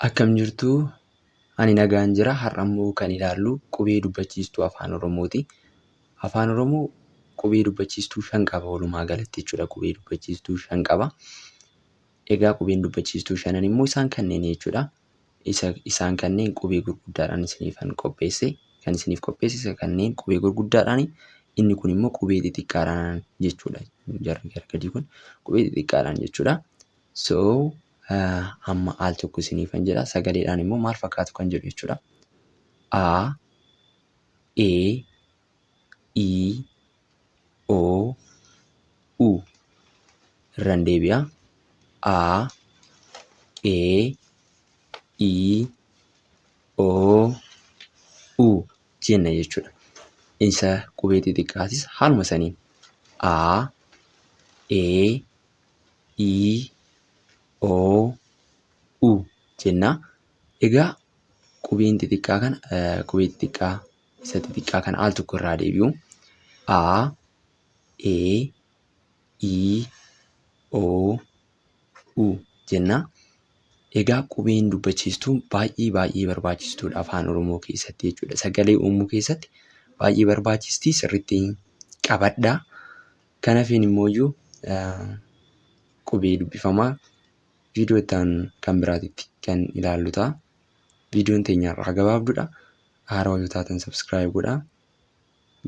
Akkam jirtu? Ani nagaan jira. Har'a immoo kan ilaallu qubee dubbachiistuu Afaan Oromooti. Afaan Oromoo qubee dubbachiistuu shan qaba walumaa galatti jechuudha. Qubee dubbachiistuu shan qaba. Egaa qubeen dubbachiistuu shanan immoo isaan kanneen jechuudha. Isa, isaan kanneen qubee gurguddaadhaan isiniifan qopheesse. Kan isiniif qopheesse isa kanneen qubee gurguddaadhaani. Inni kun immoo qubee xixiqqaadhaan jechuudha. Jarri gara gadii kun qubee xixiqqaadhaan jechuudha. So, Amma al tokko isiniifan jedha. Sagaleedhaan immoo maal fakkaatu kan jedhu jechuudha. A, E, I, O, U. Irran deebi'a. A, E, I, O, U jenna jechuudha. Isa qubee xixiqqaatis haaluma saniin A, E, i, o, u jenna. Egaa qubeen xixiqqaa kana qubee xixiqqaa isa xixiqqaa kana al tokko irraa deebi'u. A, e, i, o, u jenna. Egaa qubeen dubbachiistuu baay'ee baay'ee barbaachistuudha afaan Oromoo keessatti jechuudha. Sagalee uumuu keessatti baay'ee barbaachisti sirriitti qabadha. Kan hafeen immooyyuu qubee dubbifamaa viidiyoo itti aanu kan biraatitti kan ilaallu ta'a. Viidiyoon teenya har'aa gabaabdudha. Haarawaa yoo taatan subscribe godhaa.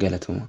Galatoomaa.